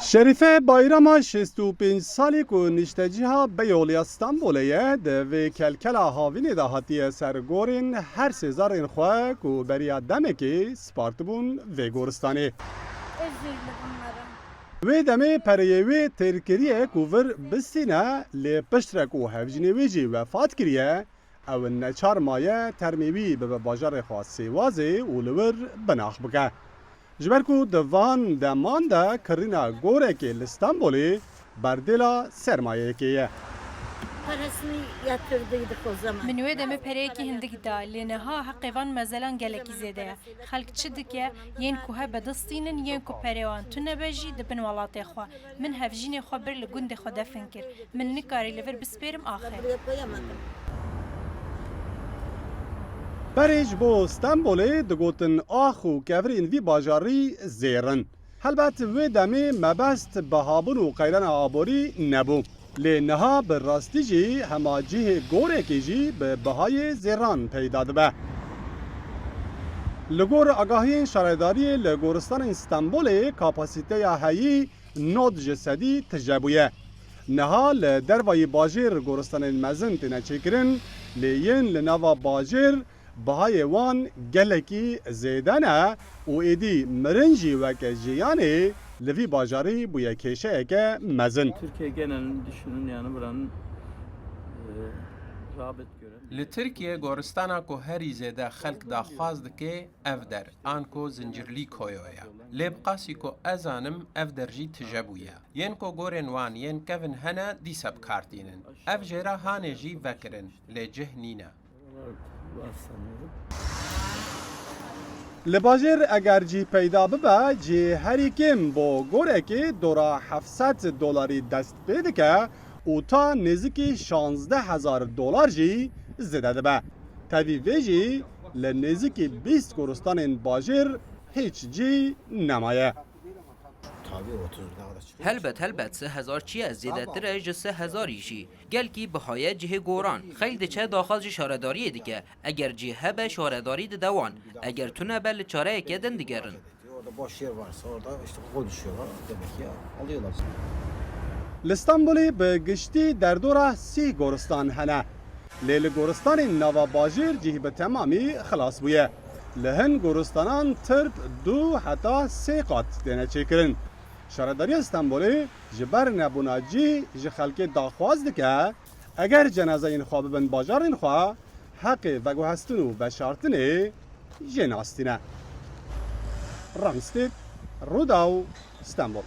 Şerîfe Bayrama şêst û pênc salî ku niştecîha Beyolê ya Stenbolê ye, di vê kelkela havînê de hatiye ser gorên her sê zerrên xwe ku beriya demekê spartibûn vê goristanê. Wê demê pereyê wê têr kiriye ku vir bistîne lê piştre ku hevjînê wê jî wefat kiriye, Ew neçar maye termê wî bibe bajarê xwe Sêwazê û li wir binax bike. Ji ber ku di van deman de kirîna gorekê li Stenbolê berdêla sermayeyekê ye. Min wê demê pereyekî hindik da, lê niha heqê van mezelan gelekî zêde ye. Xelk çi dike, yên ku hebe distînin, yên ku perê wan tune be jî dibin welatê xwe. Min hevjînê xwe bir li gundê xwe defin kir. Min nikarî li vir bispêrim axê. Berê ji bo Stenbolê digotin ax û kevirên vî bajarî zêr in. Helbet wê demê mebest bihabûn û qeyrana aborî nebû. Lê niha bi rastî jî hema cihê gorekê jî bi bihayê zêran peyda dibe. Li gor agahiyên şaredariyê li goristanên Stenbolê kapasîteya heyî nod ji sedî tije bûye. Niha li dervayî bajêr goristanên mezin têne çêkirin lê yên li nava bajêr bihayê wan gelekî zêde ne û êdî mirin jî weke jiyanê li vî bajarî bûye kêşeyeke mezin. Li Tirkiyê goristana ku herî zêde xelk daxwaz dike ev der an ku Zincirlî Koyo ye. Lê bi qasî ku ez zanim ev der jî tije bûye. Yên ku gorên wan yên kevin hene dîsa bi kar tînin. Ev jêra hanê jî vekirin lê cih nîne. Li bajêr eger cî peyda bibe cî herî kêm bo gorekê dora heft sed dolarî dest pê dike û ta nêzikî şazdeh hezar dolar jî zêde dibe. Tevî vê jî li nêzikî bîst goristanên bajêr hîç cî nemaye. Helbet helbet sih hezar çiye zêdetir e ji sih hezarî jî. Gelkî bihaye cihê goran, xeyl diçe daxaz ji şaredariyê dike. Eger cih hebe şaredarî dide wan. Eger tune be li çareyeke din digerin. Li Stenbolê bi giştî derdora sih goristan hene. Lê li goristanên nava bajêr cih bi temamî xilas bûye. Li hin goristanan tirp du heta sê qat têne çêkirin. Şaredariya Stenbolê ji ber nebûna cî ji xelkê daxwaz dike eger cenazeyên xwe bibin bajarên xwe, heqê veguhestin û veşartinê jê nas tîne. Ramstêd, Rûdaw, Stenbol.